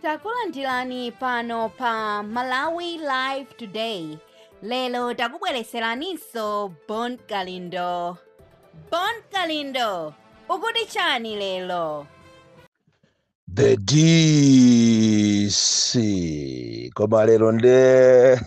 takulandirani pano pa malawi live today lero takubweretseraninso bon kalindo bon kalindo ukuti chani lero the dc koma lero nde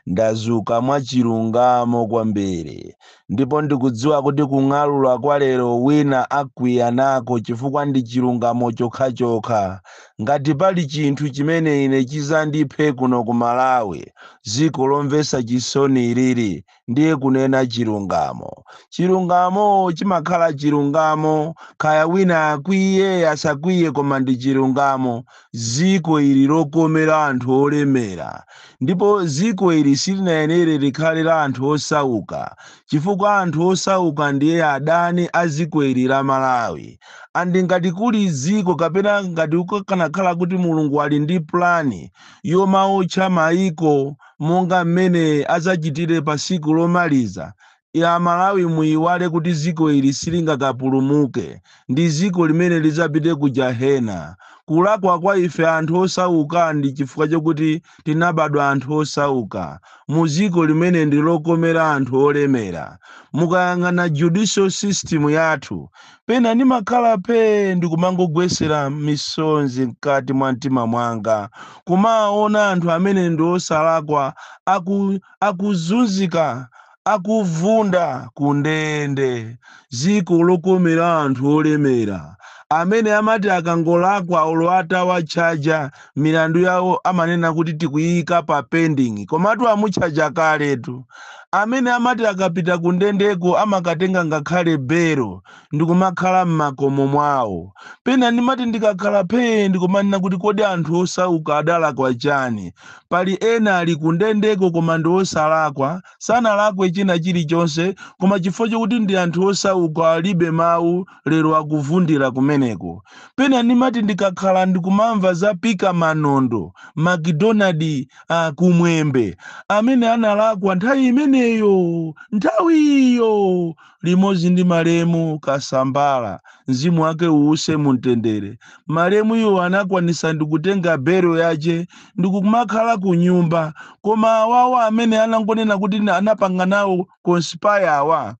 ndazuka mwachilungamo kwambiri ndipo ndikudziwa kuti kung'alula kwa lero wina akwiya nako chifukwa ndi chilungamo chokhachokha ngati pali chinthu chimene ine chidzandiphe kuno ku malawi dziko lomvetsa chisoni ilili ndiye kunena chilungamo chilungamo chimakhala chilungamo kaya wina akwiye asakwiye koma ndi chilungamo Dziko ili lokomera anthu olemera, ndipo dziko ili silinayenere likhale la anthu osauka, chifukwa anthu osauka ndiye adani a dziko ili la Malawi. And ngati kuli dziko kapena ngati kukanakhala kuti Mulungu ali ndi plan yomaotcha maiko monga mmene adzachitire pa tsiku lomaliza, Ya aMalawi muyiwale kuti dziko ili silingakapulumuke ndi dziko limene lidzapite ku jahena. Kulakwa kwa ife anthu osauka ndi chifukwa chokuti tinabadwa anthu osauka mu dziko limene ndi lokomera anthu olemera. Mukayang'ana judicial system yathu. Pena ndimakhala phee ndikumangogwesera misonzi mkati mwa mtima mwanga kumaona anthu amene ndi osalakwa akuzunzika akuvunda ku ndende, dziko lokomera anthu olemera amene amati akangolakwa olo atawatchaja milandu yawo amanena kuti tikuiika pa pending komatu amutchaja kaletu, amene amati akapita kundendeko amakatenga ngakhale bail ndikumakhala m'makomo mwawo. Pena ndimati ndikakhala phee ndikumanena kuti kodi anthu osauka adalakwa chani? Pali ena ali kundendeko koma ndi osalakwa, sanalakwe china chilichonse koma chifukwa chokuti ndi anthu osauka alibe mawu lero akuvundira kumeneko. Pena ndimati ndikakhala ndikumamva za Pika Manondo, MacDonald Kumwembe amene analakwa nthawi imeneyo, nthawi iyo! limodzi ndi malemu kasambara mzimu wake uuse mumtendere malemu iwo anakwanisa ndikutenga bail yache ndikumakhala ku nyumba koma awawa amene anangonena kuti anapanga nawo conspire awa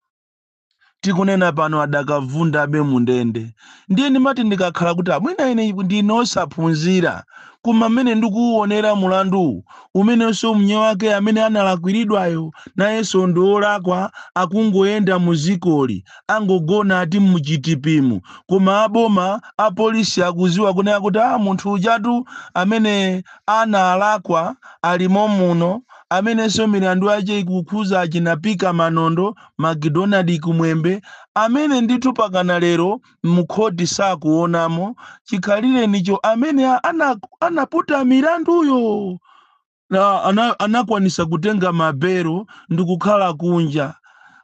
tikunena pano adakavundabe mundende ndiye ndimati ndikakhala kuti mwina ine ndine osaphunzira Koma mmene ndikuuonera mulanduwu, umenenso mnzake amene analakwiridwayo nayenso ndi wolakwa akungoyenda mu dzikoli, angogona ati mu chitipimu, koma a boma, a polisi akuziwa kunena kuti aah munthu ujatu amene analakwa alimo muno, amenenso milandu yache ikukhuza achina Pika Manondo, Macdonald Kumwembe, amene ndithu pakana lero mkhoti sakuonamo chikhalirenicho amene a- ana- anaputa milanduyo na- ana- anakwanisa kutenga mabelo ndi kukhala kunja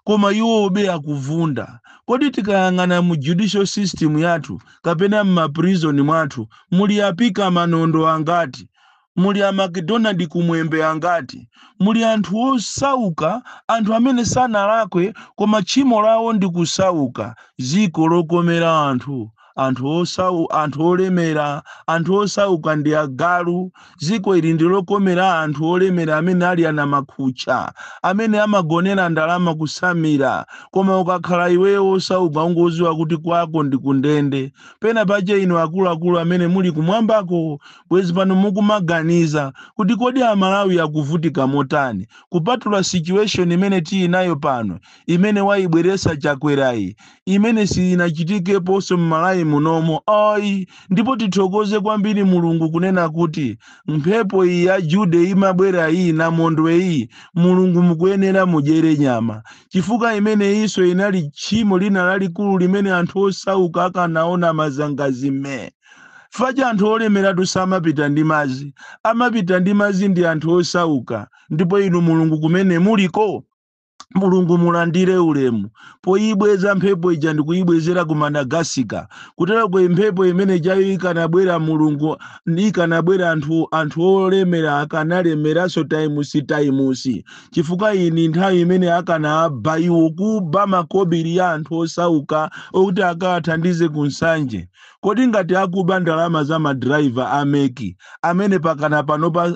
koma iwobe akuvunda kodi tikayang'ana mu judicial system yathu kapena m'maprison mwathu muli a Pika Manondo angati Muli a MacDonald Kumwembe angati? Muli anthu osauka, anthu amene sanalakwe koma tchimo lawo ndi kusauka, dziko lokomera anthu, anthu osau, anthu olemera, anthu osauka ndi agalu, dziko ili ndi lokomera anthu olemera amene ali anamakhutcha, amene amagonera ndalama kutsamira, koma ukakhala iweyo osauka ungoziwa kuti kwako ndi kundende, pena pache inu akuluakulu amene muli kumwambako Bwezi pano mukumaganiza kuti kodi a Malawi akuvutika motani kupatula situation imene tinayo pano imene waibweretsa Chakwerayi imene siyinachitikeponso m'Malawi munomo ayi ndipo tithokoze kwambiri Mulungu kunena kuti mphepo iyi ya Jude imabwera iyi Namondwe iyi Mulungu mukuyenera mudyere nyama chifukwa imeneyinso inali tchimo lina lalikulu limene anthu osauka akanaona mazangazime. paja anthu olemeratu samapita ndi madzi amapita ndi madzi ndi anthu osauka ndipo inu mulungu kumene muliko mulungu mulandire ulemu poyibweza mphepo ija ndikuyibwezera ku Madagascar kuteroko mphepo imene ijayo ikanabwera mulungu ikanabwera anthu anthu olemera akanalemeranso times times chifukwa ndi nthawi imene akanaba iwo kuba makobiri ya anthu osauka okuti akawathandize ku Nsanje Kodi ngati akuba ndalama za ma driver a MEC amene pakana panopa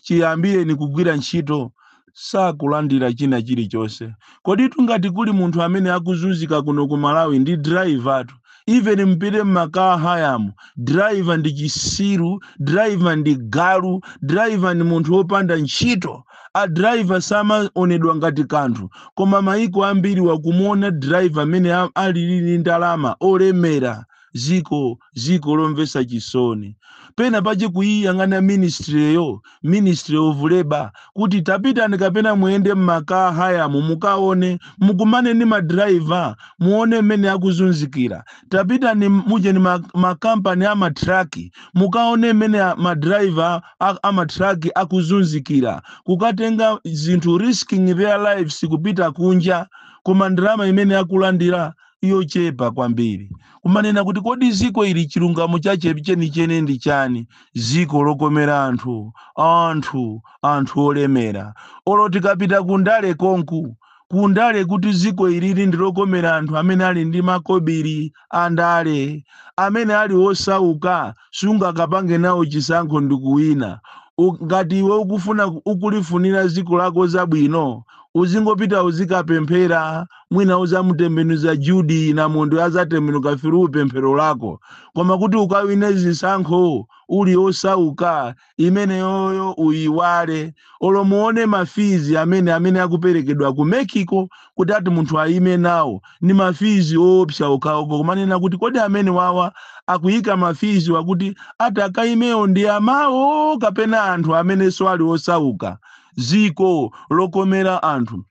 chiyambireni kugwira ntchito sakulandira china chilichonse, koditu ngati kuli munthu amene akuzunzika kuno ku Malawi ndi drivertu. Even mupite mma car hire mu, driver ndi chisiru, driver ndi galu, driver ndi munthu opanda ntchito. a driver samaonedwa ngati kanthu koma maiko ambiri wakumuona driver mmene a- alili ndi ndalama olemera ziko ziko lomvesa chisoni pena pache kuiyang'ana ministreyo ministry of labor kuti tapitani kapena muyende mma car hire mu mukaone mukumane ndi madriver muone mmene akuzunzikira tapitani mujeni ma- makampani a matraki mukaone mmene a- ma driver a, a ma truck akuzunzikira kukatenga zinthu risking their lives kupita kunja koma ndalama imene akulandira yochepa kwambiri kumanena kuti kodi dziko ili chilungamo chache chenicheni ndi chani dziko lokomera anthu anthu anthu olemera olo tikapita kundale konku ku ndale kuti dziko ilili ndi lokomera anthu amene ali ndi makobiri a ndale amene ali osauka sungakapange nawo chisankho ndi kuwina U- ngati iwe ukufuna ku- ukulifunira dziko lako zabwino uzingopita uzikapemphera mwina uzamutembenuza Jude na Mwendo azatembenuka feel pemphero lako koma kuti ukawine zisankho uli osauka imeneyoyo uyiwale olo muone ma fees amene amene akuperekedwa ku MEC uko kuti ati munthu ayime nawo ndi ma fees oopsa okhaokha kumanena kuti kodi amene wawa akuyika ma fees wakuti ati akayimewo ndi amawona kapena anthu amenenso ali osauka ziko lokomera anthu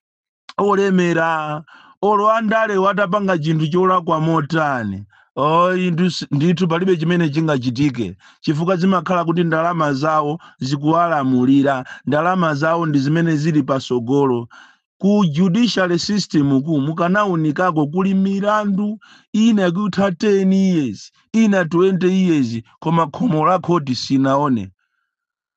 olemera olo andale atapanga chinthu cholakwa motani oh, indu si- ndithu palibe chimene chingachitike chifukwa zimakhala kuti ndalama zawo zikuwalamulira ndalama zawo ndi zimene zili pasogolo ku judicial system ku mukanaunikako kuli milandu ina yakutha 10 years ina 20 years koma khomo la khoti sinaone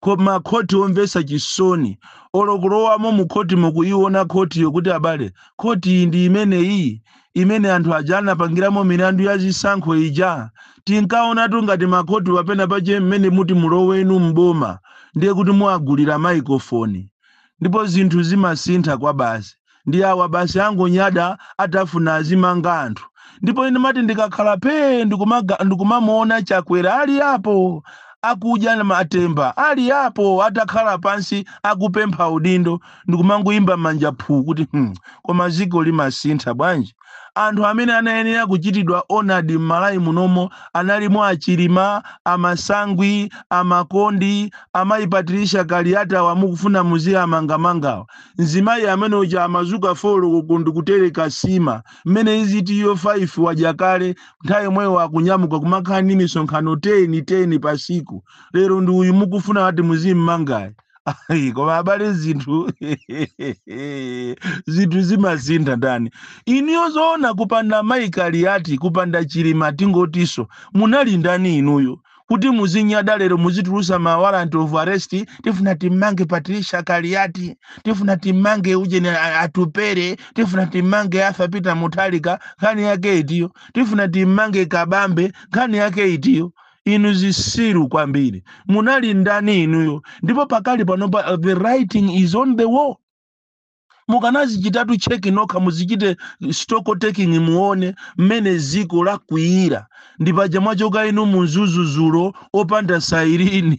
Ko, ma khoti omvesa chisoni. Olo kulowamo mu khotimo kuyiwona khotiyo kuti abale, khoti iyi ndi imeneyi? Imene anthu aja anapangiramo milandu ya zisankho ija? Tinkawonatu ngati ma khotiwa pena pache mmene muti mulowenu m'boma ndiye kuti muwagulira microphone. Ndipo zinthu zimasintha kwa basi. ndi awa basi angonyada atafuna azimanga anthu ndipo ine ndimati ndikakhala pee ndikumaga- ndikumamuona chakwera ali apo akudya na matemba ali apo atakhala pansi akupempha udindo ndikumangoyimba manja phuu kuti hmm, koma ziko limasintha bwanji Anthu amene anayenera kuchitidwa honoured m'Malawi munomo analimo a Chilima, a Masangwi, a Makondi, a mayi Patricia Kaliati awa mukufuna muziamangamangawa. Mzimayi amene uja amazuka 4 koloko ndikutereka sima mmene iziti iyo 5 wadya kale nthawi yomweyo akunyamuka kumakhala ndi misonkhano 10, 10 pasiku. Lero ndi uyu mukufuna ati muzimmangayi. Ayi, koma abale zinthu zinthu zimasintha ndani inuyo zoona kupanda mayi Kaliati kupanda chilima tingotiso munali ndani inuyo kuti muzinyada lero muzitulusa ma warrant of arrest tifuna timmange Patricia Kaliati tifuna timmange ujeni a- Atupele tifuna timmange arthur peter Mutharika nkhani yake itiyo tifuna timmange kabambe nkhani yake itiyo inu zisiru kwambiri munali ndani inuyo ndipo pakali panopa uh, the writing is on the wall mukanazichitatu check nokha muzichite stock taking muone mmene ziko lakwiyira ndi paja mwachoka inu mu mzuzu zulo opanda siren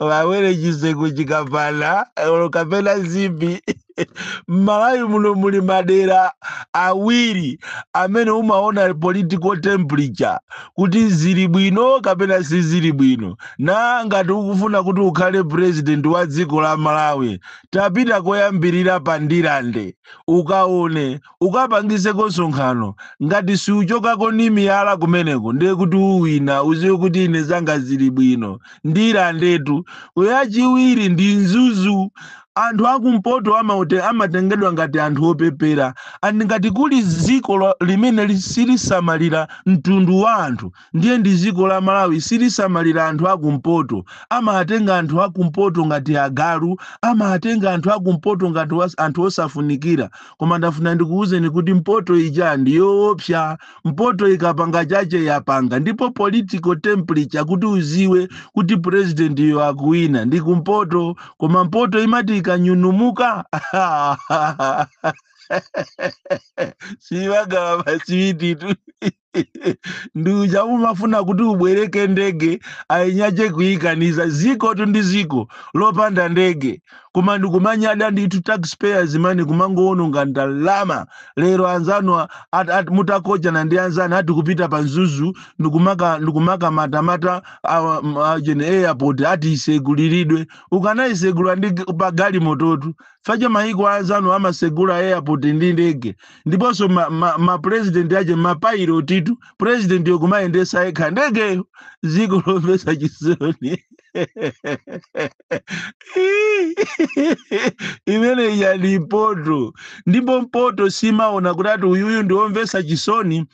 vawere chiseko chikapana olo kapena zipi m'malawi muno muli madera awiri amene umaona political temperature kuti zili bwino kapena sizili bwino na ngati ukufuna kuti ukhale president wa dziko la malawi tapita koyambirira pa ndirande ukaone ukapangizeko nsonkhano ngati siuchokako ni miyala kumeneko ndiye kuti uwina uziwe kuti ine zanga zili bwino ndirandetu yachiwiri ndi mzuzu anthu akumpoto amate- amatengedwa ngati anthu opepera and ngati kuli dziko lo- limene li- silisamalira mtundu wa anthu ndiye ndi ziko la malawi silisamalira anthu akumpoto amawatenga anthu akumpoto ngati agalu amawatenga anthu akumpoto ngati was- anthu osafunikira koma ndafuna ndikuwuzeni kuti mpoto ija ndi yoopsa mpoto ikapanga chache yapanga ndipo political temperature kuti uziwe kuti president yo akuwina ndi kumpoto koma mpoto imati ikanyunumuka simagawa maswititu ndi uja umafuna kuti ubwereke ndege eni ache kuikaniza zikotu ndi ziko lopanda ndege koma ndikumanyada ndithu taxpayers money kumangowononga ndalama lero anzanu a- at- at- mutakochana ndi anzanu ati kupita pa mzuzu ndikumaka ndikumakamatamata awa- m- a- jene airport ati iseguliridwe ukanayisegula ndi g- pa galimototu paja mayiko anzanu amasegula airport ndi ndege ndiponso ma, ma, ma president ache mapailotitu president yo kumayendesa yekha ndegeyo ziko lomvesa chisoni imene ija ndi mpoto ndipo mpoto simaona kuti ati uyuyu ndiwomvesa chisoni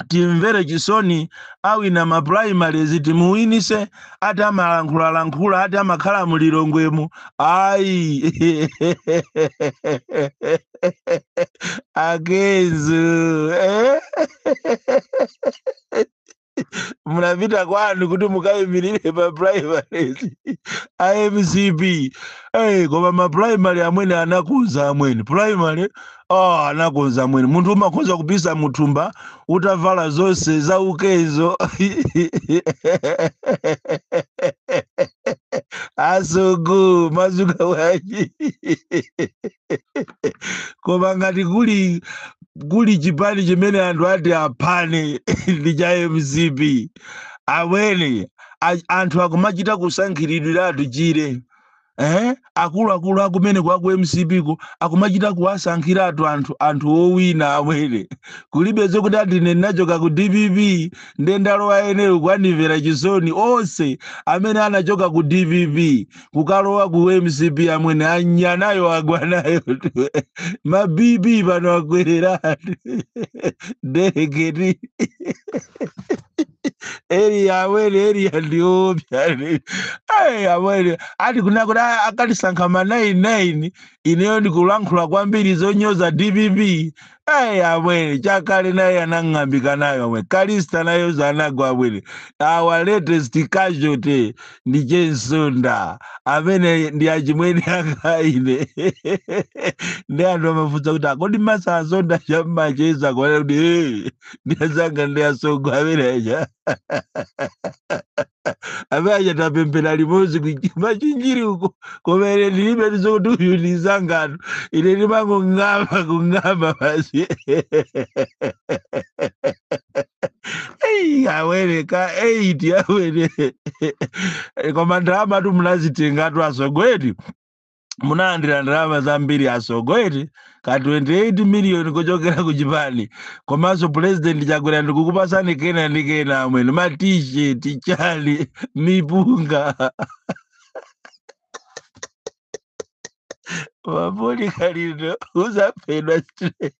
timvere chisoni awina ma primaries timuwinise ati amalankhulalankhula ati amakhala mu lilongwemu ayi a kenzo eh? munapita kwanu kuti mukayimirire pa primaries a mcp Eh, koma ma primary amwene anakuza amwene primary oh anakonza amwene munthu umakhoza kupisa muthumba utavala zonse za ukezo asogo mwadzuka bwanji koma ngati kuli kuli chipani chimene anthu ati aphane ndi cha mcp amwene a- anthu akumachita kusankhiridwiratu tchire eh akuluakulu akumeneko aku mcp ko akumachita kuwasankhiratu anthu anthu owina amwene kulibe zokuti ati ine ndinachoka ku dpp nde ndalowa ineyo kwanimvera chisoni onse amene anachoka ku dpp kukalowa ku mcp amwene anya nayo agwa nayo ma bp pano akwereratu direct eriya amwene eriya ndiopsya Ai, amwene ati kunena kuti a- akatisankha ma 99 ineyo ndikulankhula kwambiri zonyoza dpp Ai, amwene chakale naye anang'ambika nayo amwene kalista nayonso anagwa amwene our latest casualty ndi che msonda amene ndi achimwene anga ine ndi anthu amafunsa kuti akodi masanzonda chamacheza kunena kuti "Eh." ndi azanga ndi asogo amene aja amene aja tapemphera limodzi ku machinjiri uko koma ine ndilibe zokuti uyu ndi nzanga no ine ndimangong'amba kung'amba basi eyi amwene ka eyiti amwene koma ndalamatu munazitengatu asogo eti munalandira ndalama zambiri asogo eti ka 28 miliyoni kuchokera ku chipani komanso pulezidenti chakwera ndikukupasani kena ndi kena amwene ma t-shirt chani mipunga mapoli kalindo uzaphedwa straight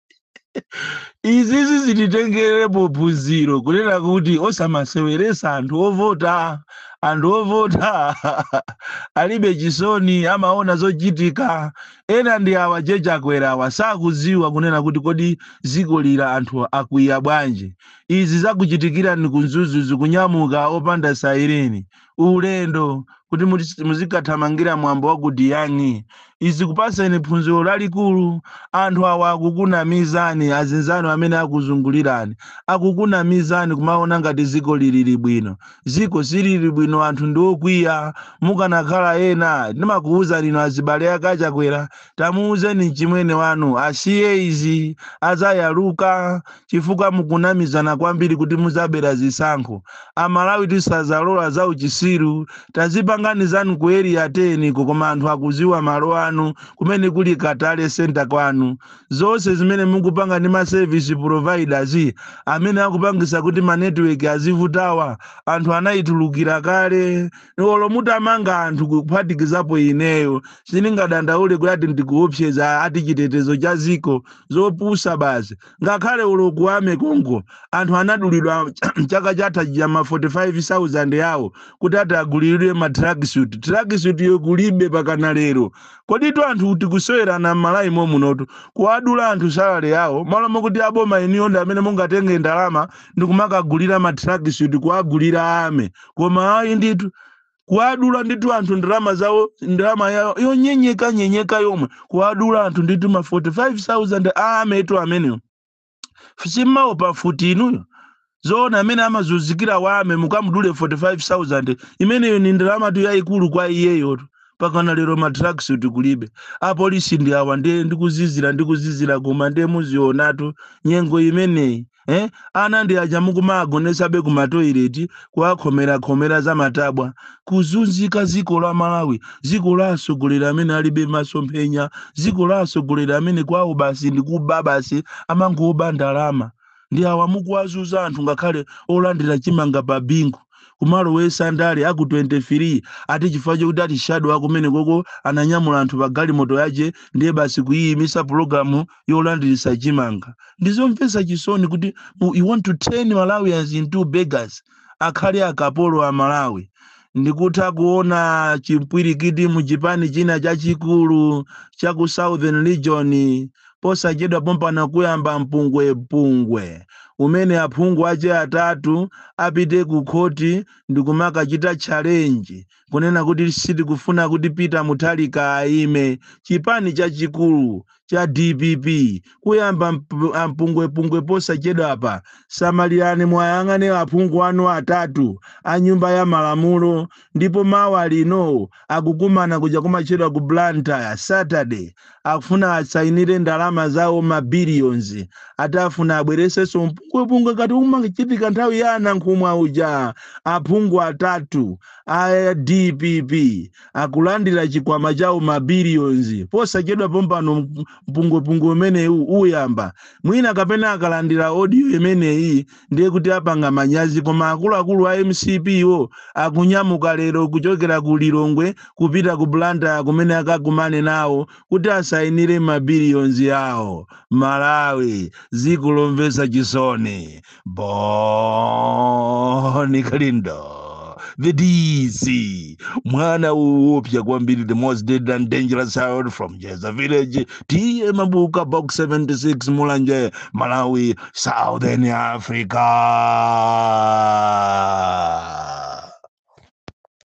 izizi zititengerepo phunziro kunena kuti osamaseweresa anthu ovota anthu ovota alibe chisoni amaona zochitika ena ndi awa che chakwera awa sakudziwa kunena kuti kodi zikoli anthu akwiya bwanji izi zakuchitikirani ku mzuzu kunyamuka opanda saireni ulendo kuti muti- muzikathamangira mwambo wa ku diyani izi zikupaseni phunziro lalikulu anthu awa akukunamizani azinzanu amene akuzungulirani akukunamizani kumaona ngati ziko lilili bwino ziko silili bwino anthu ndi okwiya mukanakhala ena ndimakuwuzani inu azibale ake a chakwera Tamuuzeni mchimwene wanu asiye izi adzayaluka chifukwa mukunamizana kwambiri kuti mudzabera zisankho. Amalawi tisadzalola zauchisiru. Tazipangani zanu ku area 10 ko koma anthu akudziwa malo anu kumene kuli Katale centre kwanu. Zonse zimene mukupanga ndi ma service providers amene akupangitsa kuti ma network azivutawa anthu anaitulukira kale. olo mutamanga anthu kuphatikizapo ineyo sindingadandaule kuti ati ndikuopseza ati chitetezo cha ziko zopusa basi ngakhale uko ku army konko anthu anadulidwa chaka chatha chija ma 45000 yawo kuti ati agulilidwe ma tracksuit tracksuit yo kulibe pakana lero koditu anthu tikusowerana m'malawi munotu kuwadula anthu salary yawo malo mokuti aboma inuyo ndi amene mungatenge ndalama ndikumakagulira ma tracksuit kuwagulira army koma ayi ndithu kuwadula ndithu anthu ndalama zawo ndalama yawo yonyenyeka nyenyeka yomwe kuwadula anthu ndithu ma 45000 a army tu amenewo si mmawopa mfuti inuyo zoona amene amazunzikira wa army mukamudule 45000 imeneyo ni ndalamatu yayikulu kwa iyeyotu pakana lero matracksuit kulibe apolisi ndi awa ndiye ndikuzizira ndikuzizira koma ndiye muzionatu nyengo imeneyi eh? ana ndi aja mukumagonesabe ku matoileti kuwakhomerakhomera za matabwa kuzunzika dziko la malawi dziko la atsogoleri amene alibe masomphenya dziko la atsogoleri amene kwawo basi ndi kuba basi amangoba ndalama ndi awa mukuwazunza anthu ngakhale olandira chimanga pa bingu kumalowesa ndale a ku 23 ati chifukwa chokuti ati shadow akumene konko ananyamula anthu pa galimoto yache ndiye basi kuyiyimisa pulogalamu yolandiritsa chimanga ndizomvetsa chisoni kuti u- you want to turn malawians into beggars akhale akapolo a malawi ndikutha kuona chimpwirikiti mu chipani china chachikulu cha ku southern region posachedwa pompano kuyamba mpungwepungwe umene aphungu ache atatu apite ku khoti ndikumakachita challenge kunena kuti sitikufuna kuti Peter Mutharika aime, chipani chachikulu cha dpp kuyamba mp- ampungwepungwe posachedwapa. Samalirani muwayang'ane aphungu anu atatu a nyumba ya malamulo, ndipo mawa lino akukumana kuja kumatchedwa ku Blantyre Saturday, akufuna asainire ndalama zawo ma billions ati akufuna abweretsenso mpungwepungwe ngati umachitika nthawi ya a Nankhumwa uja aphungu atatu a dpp akulandira chikwama chawo ma billions posachedwa pompano mp- mpungwepungwe umenewu uyamba mwina kapena akalandira audio imeneyi ndiye kuti apanga manyazi koma akuluakulu a mcp wo akunyamuka lero kuchokera ku lilongwe kupita ku blantyre kumene akakumane nawo kuti asayinire mabiliyonzi awo malawi dziko lomvetsa chisoni boni kalindo the dc mwana woopsya kwambiri the most dead and dangerous child from jeza village tiye mabuka box 76 mulanje malawi southern africa